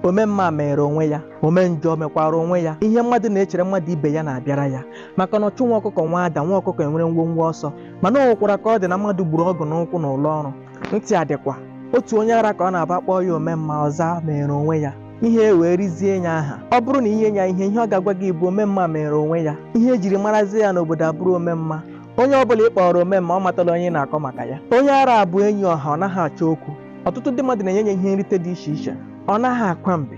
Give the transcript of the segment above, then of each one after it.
omemma mere onwe ya omenjọ mekwara onwe ya ihe mmadụ na-echere mmadụ ibe ya na-abịara ya maka na ọchụ nwa ọkụkọ nwe ada nwa ọkụkọ enwere nwọnwọ ọsọ mana o nwekwara ka ọ dị na mmadụ gburu ọgụ n'ụkwụ n'ụlọ ọrụ ntị adịkwa otu onye ara ka ọ na-abụ a kpọọ ya omemma ọ zaa mere onwe ya ihe e wee rizie ya aha ọ bụrụ na i nye ya ihe ihe ọ ga-agwa gị bụ omemma mere onwe ya ihe ejiri marazie ya n'obodo abụrụ omemma onye ọ bụla ị kpọọrọ ome mma ọ matala onye ị na-akọ maka ya onye ara a bụ enyi ọha ọ naghị achọ okwu ọtụtụ ndị mmadụ na-enye ya ihe nrite dị iche iche ọ naghị akwa mbe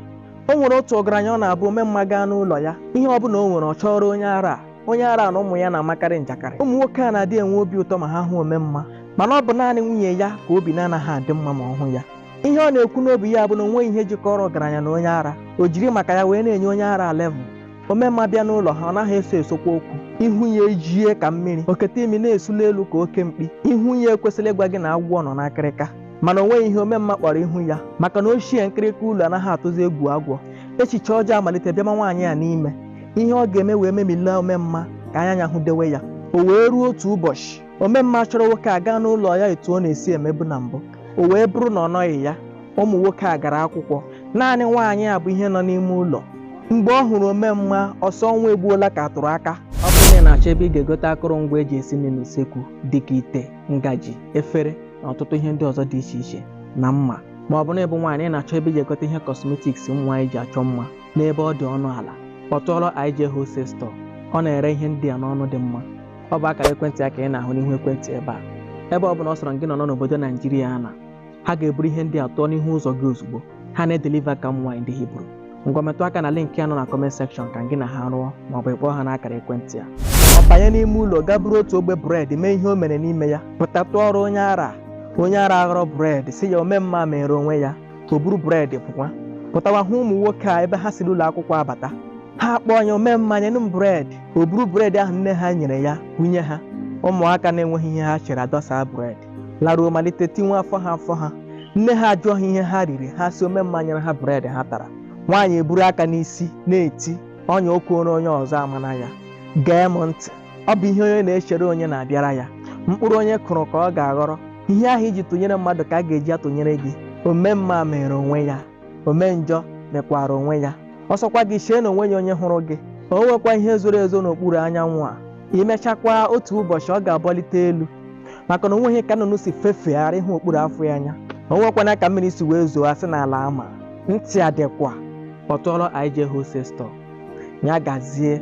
o nwere otu ọgaranya ọ na-abụ ome mma gaa n'ụlọ ya ihe ọ bụla o nwere ọ chọọrọ onye ara a onye ara na ụmụ ya na-amakarị njakịrị ụmụ nwoke a na-adị enwe obi ụtọ ma ha hụ ome mma mana ọ bụ naanị nwunye ya ka obi na-anaghị adị mma ma ọ hụ ya ihe ọ na-ekwu n'obi ya bụ na o nweghị ihe jikọrọ ọgaranya na onye ara o jiri maka ya wee na-enye onye ara level omemma bịa n'ụlọ ha ọ naghị eso esokwa okwu ihu ya ejie ka mmiri o kete imi na-esuli elu ka oke mkpi ihu ya ekwesịrị ịgwa gị na agwọ nọ n'akịrịka mana o nweghị ihe omemma kpọrọ ihu ya maka na ochie nkịrịka ụlọ anaghị atụzi egwu agwọ echiche ọjọọ amalite bịama nwaanyị a n'ime ihe ọ ga-eme wee memila omemma ka anya ya hụdewe ya o wee ruo otu ụbọchị omemma chọrọ nwoke a gaa n'ụlọ ya etu ọ na-esi emebu na mbụ o wee bụrụ na ọ nọghị ya ụmụ nwoke a gara akwụkwọ naanị nwaanyị a bụ ihe nọ n'ime ụlọ mgbe ọ hụrụ omemma ọ sị ọnwa egbuola ka a tụrụ aka ọ bụrụ na ị na-achọ ebe ị ga-egote akụrụngwa eji esi nri n'usekwu dịka ite ngaji efere na ọtụtụ ihe ndị ọzọ dị iche iche na mma ma ọ bụ na ị bụ nwaanyị ị na-achọ ebe ị ga-egote ihe kọsmetiks ụmụ nwaanyị ji achọ mma n'ebe ọ dị ọnụ ala kpọtụọrọ IJ Wholesale Store ọ na-ere ihe ndị a n'ọnụ dị mma ọ bụ akara ekwentị ya ka ị na-ahụ n'ihu ekwentị ebe a ebe ọ bụla ọ sọrọ gị nọ n'obodo naijiria a na ha ga-eburu ihe ndị a tụọ n'ihu ụzọ gị ozugbo ha na-edeliva ka ụmụ nwaanyị ndị hibru ngwa metụ aka na link ya nọ na kọment sekshọn ka gị na ha rụọ ma ọ bụ ị kpọọ ha n'akara ekwentị ya ọ banye n'ime ụlọ gaa buru otu ogbe bred mee ihe o mere n'ime ya pụta tụọrọ onye ara onye ara aghọrọ bred sị ya ome mma mere onwe ya o buru bred pụkwa pụtawa hụ ụmụ nwoke a ebe ha si n'ụlọ akwụkwọ abata ha akpọọ ya ome mma nyenụ m bred o buru bred ahụ nne ha nyere ya bunye ha ụmụaka na-enweghị ihe ha chere adọsa bred laruo malite tiwe afọ ha afọ ha nne ha ajụọ ha ihe ha riri ha sị ome mma nyere ha bred ha tara nwaanyị eburu aka n'isi na-eti ọnya o kweere onye ọzọ amana ya gee m ntị ọ bụ ihe onye na-echere onye na-abịara ya mkpụrụ onye kụrụ ka ọ ga-aghọrọ ihe ahụ i ji tụnyere mmadụ ka a ga-eji atụnyere gị ome mma mere onwe ya ome njọ mekwara onwe ya ọ sọkwa gị chee na onweghị onye hụrụ gị o nwekwa ihe zoro ezo n'okpuru anyanwụ a e mechakwaa otu ụbọchị ọ ga-abọlite elu maka na onweghị ka nnụnụ si fefegharị ịhụ okpuru afọ ya anya o nwekwanụ ka mmiri si wee zoo a sị n'ala ama ntị adịkwa kpọtụọrọ IJ Wholesale Store ya gazie